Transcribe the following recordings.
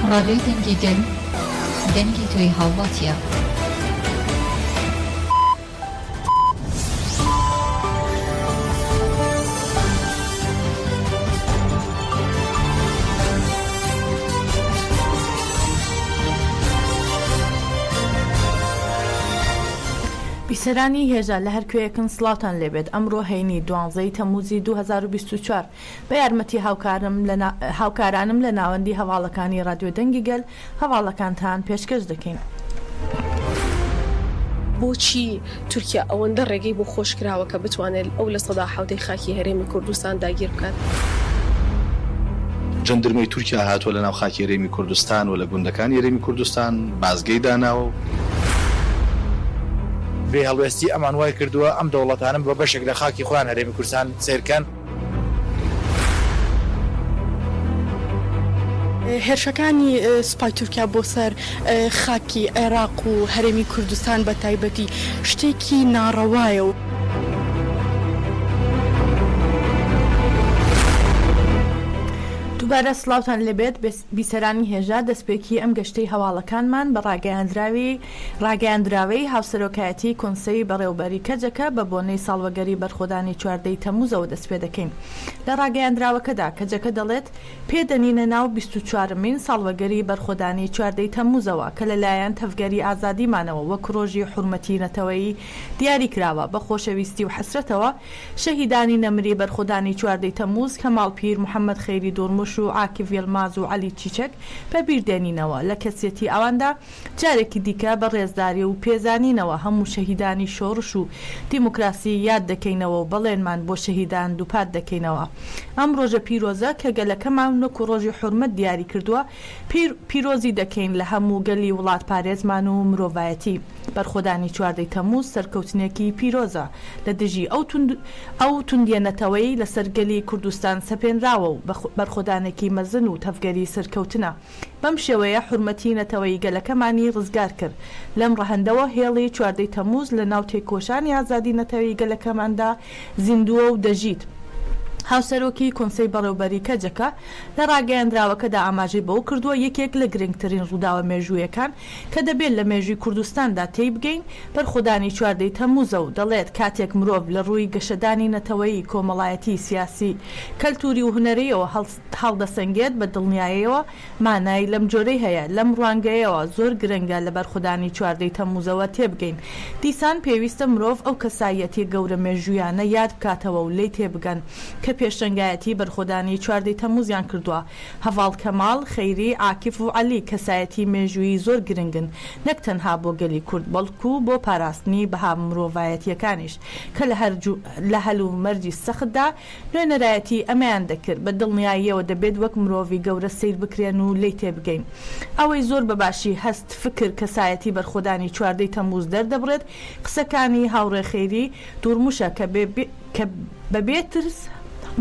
ڕادیۆی دەنگی گەل، دەنگی تۆی هاوڵاتیە. بیسەرانی هێژا لە هەر کوێیەکن سڵاوتان لێبێت ئەمڕۆ هەینی دوانزەی تەموزی دوو هەزار و بیست و چوار بە یارمەتی هاوکارم لە هاوکارانم لە ناوەندی هەواڵەکانی رادیۆ دەنگی گەل هەواڵەکانتان پێشکەش دەکەین. بۆچی تورکیا ئەوەندە ڕێگەی بۆ خۆش کراوە کە بتوانێت ئەو لە سەدا حوتەی خاکی هەرێمی کوردستان داگیر بکات؟ جەندرمەی تورکیا هاتووە لە ناو خاکی هەرێمی کوردستان و لە گوندەکانی هەرێمی کوردستان بازگەی داناوە. بێ هەڵوێستی ئەمان وای کردووە ئەم دەوڵەتانە بە بەشێک لە خاکی خۆیان هەرێمی کوردستان سەیرکەن. هێرشەکانی سوپای تورکیا بۆ سەر خاکی عێراق و هەرێمی کوردستان بە تایبەتی شتێکی ناڕەوایە و دووبارە سڵاوتان لێبێت بیسەرانی هێژا دەستپێکی ئەم گەشتەی هەواڵەکانمان بە ڕاگەیاندراوی ڕاگەیاندراوێی هاوسەرۆکایەتیی کۆنسەی بەڕێوەبەری کەجەکە بە بۆنەی ساڵوەگەری بەرخۆدانی چواردە ی تەمموزەوە دەستپێدەکەین. لە ڕاگەیاندراوەکەدا کەجەکە دەڵێت، پێ دەنینە ناو بیست و چوار مین ساڵوەگەری بەرخۆدانی چواردە ی تەمموزەوە کە لە لایەن تەڤگەری ئازادیمانەوە وەک ڕۆژی حورمەتی نەتەوەیی دیاری کراوە، بە خۆشەویستی و حەسرەتەوە شەهیدانی نەمری بەرخۆدانی چواردە ی تەمموز کەماڵ پیر، محەممەد خەیری دورموش و عاکیڤ یلماز و عەلی چیچەک بە بیر دێنینەوە، لە کەسیەتی ئەواندا. جارێکی دیکە بە ڕێزداری و پێزانینەوە هەموو شەهیدانی شۆڕش و دیموکراسی یاد دەکەینەوە و بەڵێنمان بۆ شەهیدان دووپات دەکەینەوە ئەم ڕۆژە پیرۆزە کە گەلەکەمان وەکو ڕۆژی حورمەت دیاری کردووە پیرۆزی دەکەین لە هەموو گەلی وڵاتپارێزمان و مرۆڤایەتی بەرخۆدانی چواردە تەموز سەرکەوتنێکی پیرۆزە لە دژی ئەو توندیە نەتەوەی لەسەر گەلی کوردستان سەپێنراوە و بەرخۆدانێکی مەزن و تەڤگەری سەرکەوتنە. بەم شێوەیە حورمەتی نەتەوەیی گەلەکەمانی ڕزگار کرد. لەم ڕەهەندەوە هێڵی چواردەی تەموز لە ناو تێکۆشانی ئازادی نەتەوەیی گەلەکەماندا زیندووە و دەژیت. هاوسەرۆکی کۆنسەی بەڕێوبەری کەجەکە لە ڕاگەیەندراوەکەدا ئاماژەی بەوە کردووە، یەکێک لە گرنگترین ڕووداوە مێژوویەکان کە دەبێت لە مێژووی کوردستاندا تێی بگەین، بەرخۆدانی چواردەی تەموزە و دەڵێت، کاتێک مرۆڤ لە ڕووی گەشەدانی نەتەوەیی، کۆمەڵایەتی، سیاسی، کەلتووری و هونەرییەوە هەڵدەسەنگێت، بە دڵنیایەوە مانای لەم جۆرەی هەیە. لەم ڕوانگەیەوە زۆر گرنگە لە بەرخودانی چواردە ی تەمموزەوە تێبگەین. دیسان پێویستە مرۆڤ ئەو کەساییەتیە گەورە مێژوویانە یاد بکاتەوە و لێی تێبگەن کە پێشەنگایەتی بەرخۆدانی چواردە ی تەمموزیان کردوە. هەڤاڵ کەماڵ، خەیری، عاکف و عەلی کەسایەتی مێژوویی زۆر گرنگن نەک تەنها بۆ گەلی کورد بەڵکو بۆ پاراستنی بەها مرۆڤایەتیەکانیش کە لە هەلومەرجی سەختدا نوێنەرایەتی ئەمەیان دەکرد، بە دڵنیاییەوە دەبێت وەک مرۆڤی گەورە سەیر بکرێن و لێی تێبگەین. ئەوەی زۆر بە باشی هەست، فکر، کەسایەتی بەرخۆدانی چواردە ی تەمموز دەردەبڕێت، قسەکانی هاوڕێ خەیری دوورموشە کە کە بە بێ ترس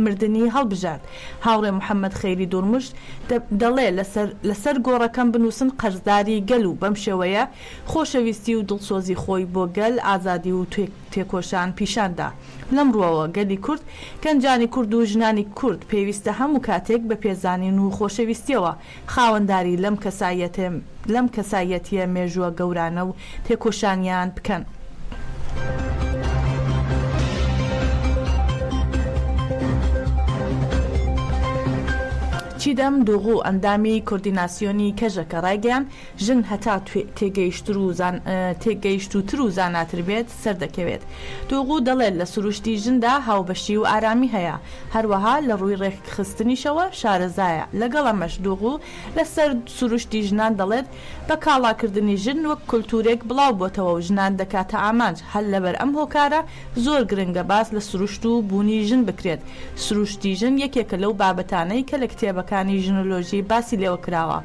مردنی هەڵبژارد. هاوڕێ محەممەد خەیری دوورموش دەڵێ لە سەر لە سەر گۆڕەکەم بنووسن قەرزداری گەل و بەم شێوەیە خۆشەویستی و دڵسۆزی خۆی بۆ گەل، ئازادی و تێکۆشان پیشان دا. لەم ڕووەوە گەلی کورد، گەنجانی کورد و ژنانی کورد پێویستە هەموو کاتێک بە پێزانین و خۆشەویستییەوە خاوەنداری لەم کەسایەتە لەم کەسایەتییە مێژووە گەورانە و تێکۆشانیان بکەن. چیدەم دوغو، ئەندامی کۆردیناسیۆنی کەژەکە ڕایگەیاند، ژن هەتا تێگەیشترو زان تێگەیشتووتر و زاناتر بێت سەردەکەوێت. توغو دەڵێت لە سروشتی ژندا هاوبەشی و ئارامی هەیە، هەروەها لە ڕووی ڕێکخستنیشەوە شارەزایە، لەگەڵ ئەمەش دوغو لەسەر سروشتی ژنان دەڵێت بە کاڵاکردنی ژن وەک کولتوورێک بڵاو بۆتەوە و ژنان دەکاتە ئامانج، هەر لەبەر ئەم هۆکارە زۆر گرنگە باس لە سروشت و بوونی ژن بکرێت، سروشتی ژن یەکێکە لەو بابەتانەی کە لە کتێبەکانی ژنۆلۆژی باسی لێوە کراوە.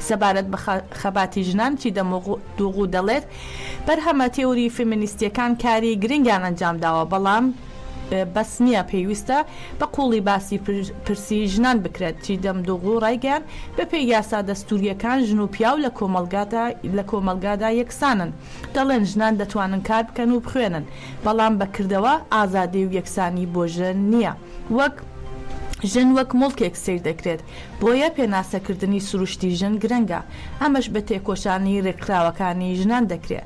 سەبارەت بە خەباتی ژنان چیدە موغدوغو دەڵێت، بەرهەمە تێوری فێمینیستییەکان کاری گرنگیان ئەنجام داوە، بەڵام بەس نییە، پێویستە بە قووڵی باسی پرسی ژنان بکرێت. چیدەم دوغو ڕایگەیاند، بەپێی یاسا دەستوورییەکان ژن و پیاو لە کۆمەڵگادا یەکسانن، دەڵێن ژنان دەتوانن کار بکەن و بخوێنن، بەڵام بە کردەوە ئازادی و یەکسانی بۆ ژن نییە، وەک ژن وەک موڵکێک سەیر دەکرێت. بۆیە پێناسەکردنی سروشتی ژن گرنگە، ئەمەش بە تێکۆشانی رێکخراوەکانی ژنان دەکرێ.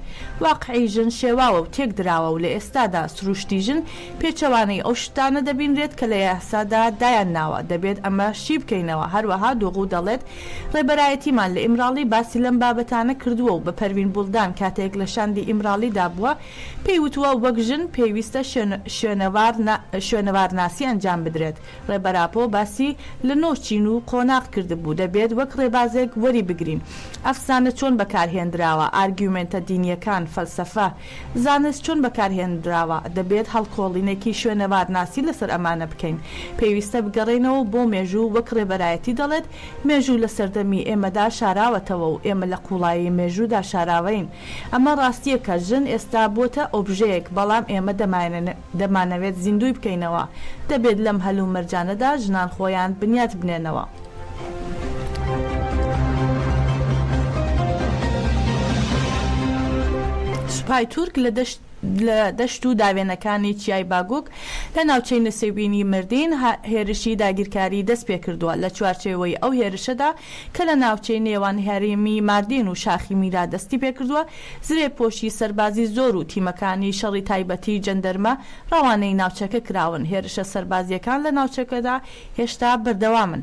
واقعی ژن شێواوە و تێکدراوە و لە ئێستادا سروشتی ژن پێچەوانەی ئەو شتانە دەبینرێت کە لە یاسادا دایان ناوە، دەبێت ئەمە شی بکەینەوە، هەروەها دوغو دەڵێت، رێبەرایەتیمان لە ئیمراڵی باسی لەم بابەتانە کردووە و بە پەروین بوڵدان کاتێک لە شاندی ئیمراڵیدا بووە پێی وتووە وەک ژن پێویستە شوێنەوارناسی ئەنجام بدرێت ڕێبەر ئاپۆ باسی لە نۆ چین و قۆناغ کردبوو، دەبێت وەک ڕێبازێک وەری بگرین. ئەفسانە چۆن بەکارهێنراوە، ئارگیومێنتە دینییەکان، فەلسەفە، زانست چۆن بەکارهێنراوە، دەبێت هەڵکۆڵینێکی شوێنەوارناسی لەسەر ئەمانە بکەین. پێویستە بگەڕێینەوە بۆ مێژوو، وەک ڕێبەرایەتی دەڵێت، مێژوو لە سەردەمی ئێمەدا شاراوەتەوە و ئێمە لە قووڵایی مێژوودا شاراوەین. ئەمە ڕاستییەکە، ژن ئێستا بووەتە ئۆبژەیەک، بەڵام ئێمە دەمانەوێت. دەمانەوێت زیندووی بکەینەوە. دەبێت لەم هەلومەرجانەدا ژنان خۆیان بنیات بنێنەوە. سوپای تورک لە دەشت و داوێنەکانی چیای باگوک لە ناوچەی نسێوینی مردین هێرشی داگیرکاری دەستپێکردووە، لە چوارچێوەی ئەو هێرشەدا کە لە ناوچەی نێوان هەرێمی ماردین و شاخی میرا دەستی پێکردووە، زرێپۆشی سەربازی زۆر و تیمەکانی شەڕی تایبەتی جەندرمە ڕەوانەی ناوچەکە کراون، هێرشە سەربازییەکان لە ناوچەکەدا هێشتا بەردەوامن.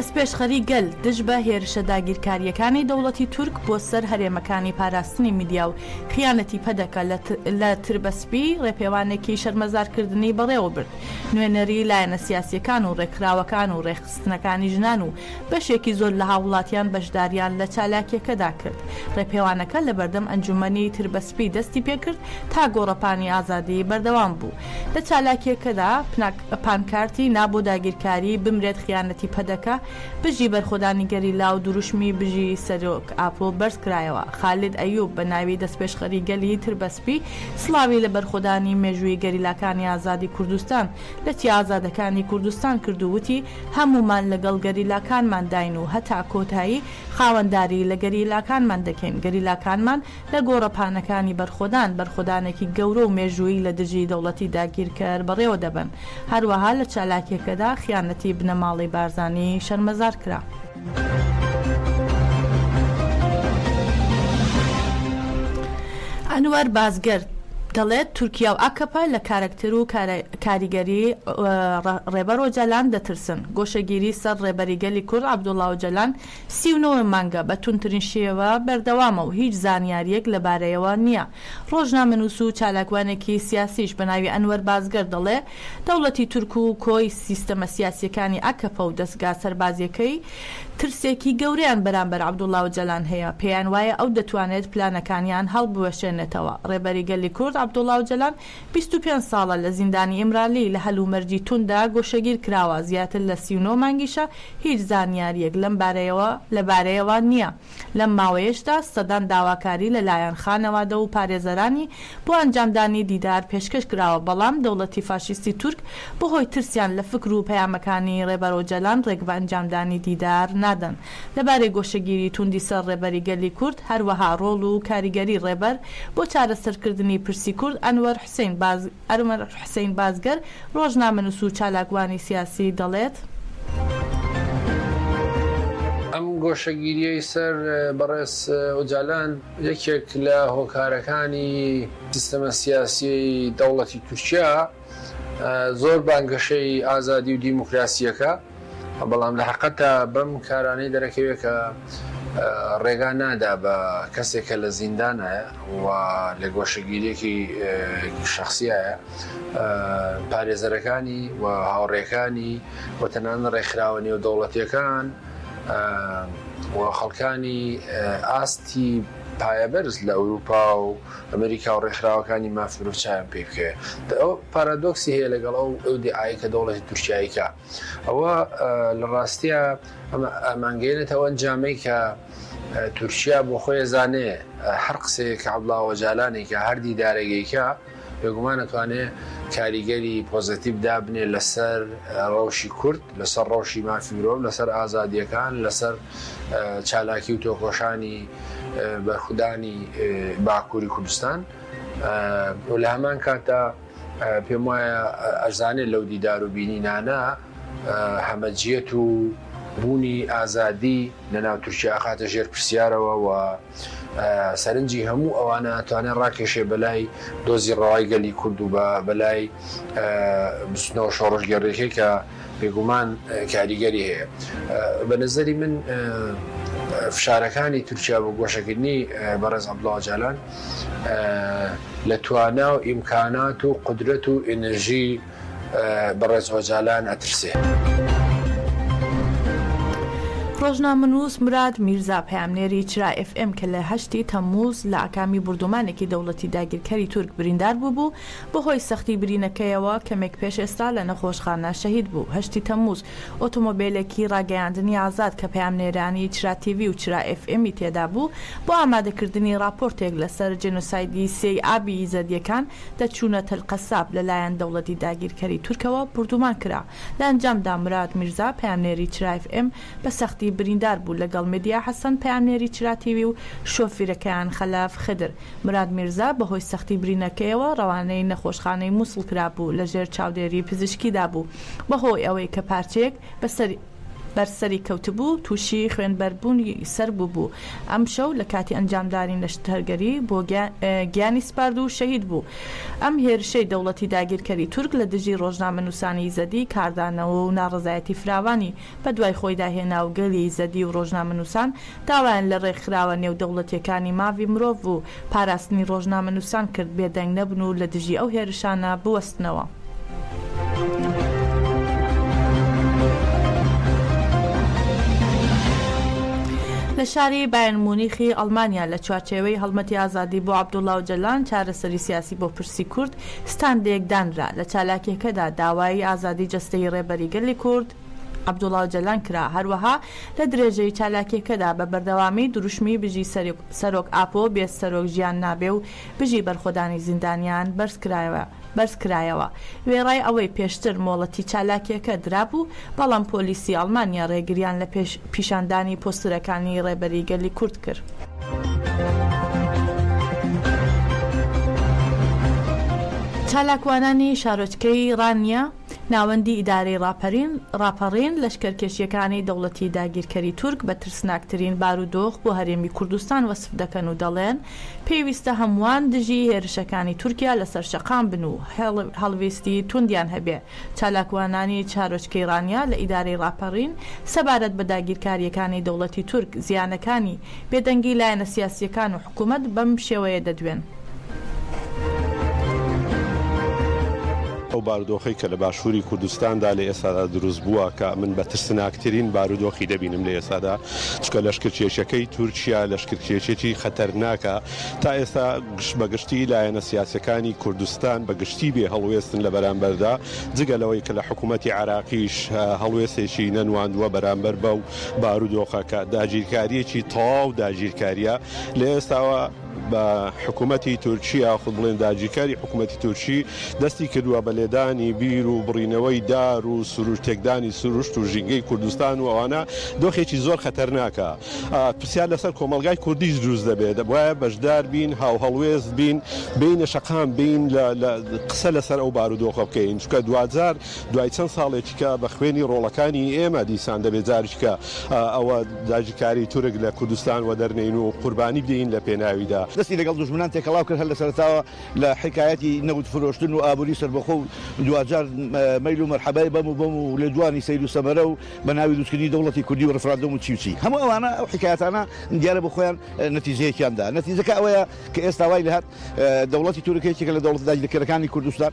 دەستپێشخەری گەل دژ بە هێرشە داگیرکارییەکانی دەوڵەتی تورک بۆ سەر هەرێمەکانی پاراستنی میدیا و خیانەتی پەدەکە لە تربەسپی ڕێپێوانێکی شەرمەزارکردنی بەڕێوەبرد، نوێنەری لایەنە سیاسییەکان و ڕێکخراوەکان و ڕێکخستنەکانی ژنان و بەشێکی زۆر لە هاووڵاتیان بەشدارییان لە چالاکییەکەدا کرد، ڕێپێوانەکە لەبەردەم ئەنجوومەنی تربەسپی دەستی پێکرد تا گۆڕەپانی ئازادی بەردەوام بوو لە چالاکییەکەدا پانکارتی نا بۆ داگیرکاری، بمرێت خیانەتی پەدەکە، بژی بەرخۆدانی گەریلا و دروشمی بژی سەرۆک ئاپۆ بەرز کرایەوە، خالید ئەیوب بە ناوی دەستپێشخەری گەلی تربەسپی سڵاوی لە بەرخۆدانی مێژوویی گەریلاکانی ئازادی کوردستان لە چیا ئازادەکانی کوردستان کرد و وتی هەموومان لەگەڵ گەریلاکانمانداین و هەتا کۆتایی خاوەنداری لە گەریلاکانمان دەکەین، گەریلاکانمان لە گۆڕەپانەکانی بەرخۆدان، بەرخۆدانێکی گەورە و مێژوویی لە دژی دەوڵەتی داگیرکەر بەڕێوە دەبەن. هەروەها لە چالاکییەکەدا خیانەتی بنەماڵەی بارزانی شەرمەزار کرا. ئەنوەر بازگر دەڵێت، تورکیا و ئاکەپە لە کارەکتەر و کاریگەریی ڕێبەر ئۆجالان دەترسن. گۆشەگیری سەر ڕێبەری گەلی کورد عەبدوڵا ئۆجالان سی و نۆ مانگە بە توندترین شێوە بەردەوامە و هیچ زانیارییەک لەبارەیەوە نییە. ڕۆژنامەنووس و چالاکوانێکی سیاسیش بە ناوی ئەنوەر بازگەر دەڵێ، دەوڵەتی تورک و کۆی سیستەمە سیاسییەکانی ئاکەپە و دەزگا سەربازییەکەی ترسێکی گەورەیان بەرامبەر عەبدوڵا ئۆجالان هەیە، پێیانوایە ئەو دەتوانێت پلانەکانیان هەڵبوەشێنێتەوە. ڕێبەری گەلی کورد عەبدوڵا ئۆجالان بیست و پێنج ساڵە لە زیندانی ئیمرالی لە هەلومەرجی تونددا گۆشەگیر کراوە، زیاتر لە سی و نۆ مانگیشە هیچ زانیارییەک لەم بارەیەوە لە بارەیەوە نییە، لەم ماوەیەشدا سەدان داواکاری لە لایەن خانەوادە و پارێزەرانی بۆ ئەنجامدانی دیدار پێشکەش کراوە بەڵام دەوڵەتی فاشیستی تورک بەهۆی ترسیان لە فکر و پەیامەکانی ڕێبەر ئۆجەلان ڕێگە بە ئەنجامدانی دیدار نادەن. لەبارەی گۆشەگیری توندی سەر ڕێبەری گەلی کورد، هەروەها ڕۆڵ و کاریگەری ڕێبەر بۆ چارەسەرکردنی پرسی کورد، ئەنوەر حسین بازگەر، ڕۆژنامەنووس و چالاکوانی سیاسی دەڵێت. ئەم گۆشەگیرییەی سەر بەڕێز ئۆجالان یەکێک لە هۆکارەکانی سیستەمە سیاسیی دەوڵەتی تورکیا، زۆر بانگەشەی ئازادی و دیموکراسیەکە بەڵام لە حەقەتا بەم کارانەی دەرەکەوێ کە ڕێگا نادا بە کەسێک کە لە زیندانایە و لە گۆشەگیریەکی شخصیایە پارێزەرەکانی و هاوڕێکانی و تەنان ڕێکخراوە نێو دەوڵەتیەکان و خەڵکانی ئاستی پایەبەرز لە ئەوروپا و ئەمریکا و ڕێکخراوەکانی ماف مرۆڤ چاویان پێی بکەوێت. ئەوە پارادۆکسی هەیە لەگەڵ ئەو ئیدعایەی کە دەوڵەتی تورکیایی کا. ئەوە لە ڕاستیا ئەمە ئامانگەیەنێتە ئەو ئەنجامەی کە تورکیا بۆ خۆی ئەزانێ هەر قسەیەک کە عەبدوڵا ئۆجالان ئەیکا، هەر دیدارێک ئەیکا بێگومان ئەتوانێ کاریگەری پۆزەتیڤ دابنێ لە سەر ڕەوشی کورد، لە سەر ڕەوشی مافی مرۆڤ، لە سەر ئازادییەکان، لە سەر چالاکی و تۆکۆشانی بەرخودانی باکووری کوردستان و لە هەمان کاتدا پێم وایە ئەرزانێ لەو دیدار و بینینانە هەمەجیەت و بوونی ئازادی لە ناو تورکیا ئەخاتە ژێر پرسیارەوە و سەرنجی هەموو ئەوانە ئەتوانێ ڕاکێشێ بەلای دۆزی ڕەوای گەلی کورد و بە بەلای بستنەوە شۆڕشگێڕێکی کە بێگومان کاریگەری هەیە بە نظری من فشارەکانی تورکیا بۆ گۆشەکردنی بەڕێز عبدڵاو جالان لە توانا و ئیمکانات و قدرەت و ئێنرژی بەڕێز ئۆجالان ئەترسێ. ڕۆژنامەنووس مراد میرزا پەیامنێری چرا ئێف ئێم کە لە هەشتی تەممووز لە ئاکامی بوردومانێکی دەوڵەتی داگیرکەری تورک بریندار بووبوو، بەهۆی سەختی برینەکەیەوە کەمێک پێش ئێستا لە نەخۆشخانە شەهید بوو. هەشتی تەممووز ئۆتۆمۆبێلێکی ڕاگەیاندنی ئازاد کە پەیامنێرانی چرا تیڤی و چرا ئێف ئێمی تێدابوو، بۆ ئامادەکردنی ڕاپۆرتێک لەسەر جێنۆسایدی سێی ئابی ئیزەدییەکان دەرچوونە تەلقەساب لە لایەن دەوڵەتی داگیرکەری تورکەوە بوردومان کرا. لە ئەنجامدا مراد میرزا پەیامنێری چراف ئێم بە سەختی بریندار بوو لە گەڵ مێدیا حەسەن پەیامنێری چرا تیوی و شۆفیرەکەیان خەلەف خدر. مراد میرزا بە هۆی سەختی برینەکەیەوە ڕەوانەی نەخۆشخانەی موسڵ کرابوو لە ژێر چاودێری پزیشکیدا بوو بە هۆی ئەوەی کە پارچەیەک بە سەری بەر سەری کەوتبوو، تووشی خوێنبەربوونی سەر بووبوو، ئەمشەو لە کاتی ئەنجامدانی نەشتەرگەری بۆ گیانی سپارد و شەهید بوو. ئەم هێرشەی دەوڵەتی داگیرکەری تورک لە دژی ڕۆژنامەنووسانی یزەدی کاردانەوە و ناڕەزایەتی فراوانی بەدوای خۆیدا هێنا و گەلی یزەدی و ڕۆژنامەنووسان داوایان لە ڕێکخراوە نێودەوڵەتییەکانی ماڤی مرۆڤ و پاراستنی ڕۆژنامەنووسان کرد بێدەنگ نەبن و لە دژی ئەو هێرشانە بوەستنەوە. لە شاری بایرن مونیخی ئەڵمانیا لە چوارچێوەی هەڵمەتی ئازادی بۆ عەبدوڵا ئۆجەلان چارەسەری سیاسی بۆ پرسی کورد ستاندێک دانرا، لە چالاکییەکەدا داوای ئازادی جەستەیی ڕێبەری گەلی کورد، عەبدوڵا ئۆجەلان کرا، هەروەها لە درێژەی چالاکیەکەدا بە بەردەوامی دروشمی بژی سەرۆک ئاپۆ، بێ سەرۆک ژیان نابێ و بژی بەرخۆدانی زیندانیان بەرز کرایەوە. وێڕای ئەوەی پێشتر مۆڵەتی چالاکیەکە درابوو، بەڵام پۆلیسی ئەڵمانیا رێگریان لە پیشاندانی پۆستەرەکانی رێبەری گەلی کورد کرد. چالاکوانانی شارۆچکەی رانیە، ناوەندی ئیدارەی ڕاپەرین، ڕاپەڕین، لەشکەرکێشییەکانی دەوڵەتی داگیرکەری تورک بە ترسناکترین بارودۆخ بۆ هەرێمی کوردستان وەسف دەکەن و دەڵێن، پێویستە هەمووان دژی هێرشەکانی تورکیا لەسەر شەقام بن و هەڵوێستی توندیان هەبێ. چالاکوانانی شارۆچکەی ڕانیە لە ئیدارەی ڕاپەڕین سەبارەت بە داگیرکارییەکانی دەوڵەتی تورک زیانەکانی بێدەنگی لایەنە سیاسییەکان و حکوومەت بەم شێوەیە دەدوێن. ئەو بارودۆخەی کە لە باشووری کوردستاندا لە ئێستادا دروست بووە، کە من بە ترسناکترین بارودۆخی دەبینم لە ئێستادا، چونکە لەشکرکێشییەکەی تورکیا لەشکرکێشییەکی خەتەرناکە. تا ئێستا گشت بە گشتی لایەنە سیاسییەکانی کوردستان بە گشتی بێ هەڵوێستن لە بەرامبەردا، جگە لەوەی کە لە حکوومەتی عێراقیش هەڵوێستێکی نەنواندووە بەرامبەر بەو بارودۆخەکە داگیرکاریەکی تەواو داگیرکاریە لە ئێستاوە بە حکوومەتتی تورکیا خود بڵێن داگیرکاری حکوومەتتی تورکی دەستی کردووە بە لێدانی بیر و بڕینەوەی دار و سروش تێکدانی سروشت و ژینگەی کوردستان و ئەوانە دۆخێکی زۆر خەتەرناکە پرسیار لەسەر کۆمەلگای کوردیش دروست دەبێت وایە بەشدار بین هاو هەڵوێست بین بینە شەقام بین لە قسە لەسەر ئەو بارودۆخە بکەین چکە دوجار دوای چەند ساڵێکی کە بە خوێنی ڕۆڵەکانی ئێمە دیسان دەبێ جاریکە ئەوە داگیرکاری تورک لە کوردستان وەدەرنێین و قوربانی بدەین لە پێناویدا. دەستی لەگەڵ دوژمنان تێکەڵاو کرد، هەر لە سەرەتاوە لە حیکایەتی نەوت فرۆشتن و ئابووری سەربەخۆ و دواجار مەیل و مەرحەبای بەم و بەم و لێدوانی سەیر و سەمەرە و بە ناوی دروستکردنی دەوڵەتی کوردی و ڕیفراندۆم و چی و چی. هەموو ئەوانە، ئەو حیکایەتانە دیارە بۆ خۆیان نەتیجەیەکیان دا. نەتیجەکە ئەوەیە کە ئێستا وای لێهات دەوڵەتی تورک یەکێکە لە دەوڵەتە داگیرکەرەکانی کوردستان.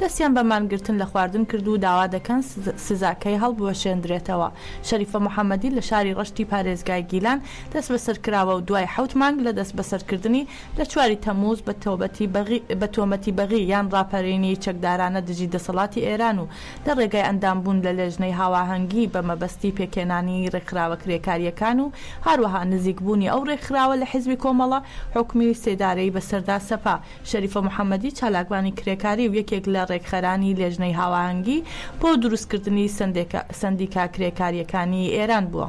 دەستیان بە مانگرتن لە خواردن کرد و داوا دەکەن سزاکەی هەڵبوەشێندرێتەوە. شەریفە محەمەدی لە شاری ڕەشتی پارێزگای گیلان دەستبەسەر کراوە و دوای حەوت مانگ لە دەستبەسەرکردنی، لە چواری تەمووز بە تۆبەتی بەغی بە تۆمەتی بەغی یان ڕاپەرینی چەکدارانە دژی دەسەڵاتی ئێران و لە ڕێگای ئەندامبوون لە لێژنەی هاواهەنگی بە مەبەستی پێکهێنانی ڕێکخراوە کرێکارییەکان و هاروەها نزیکبوونی ئەو ڕێکخراوە لە حیزبی کۆمەڵە، حوکمی سێدارەی بەسەردا سەپا. شەریفە محەمەدی، چالاکوانی کرێکاری و یەکێک لە رێکخەرانی لێژنەی هاوئاهەنگی بۆ دروستکردنی سەندیکا کرێکارییەکانی ئێران بووە.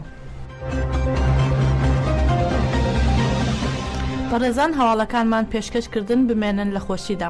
بەڕێزان هەواڵەکانمان پێشکەش کردن بمێنن لە خۆشیدا.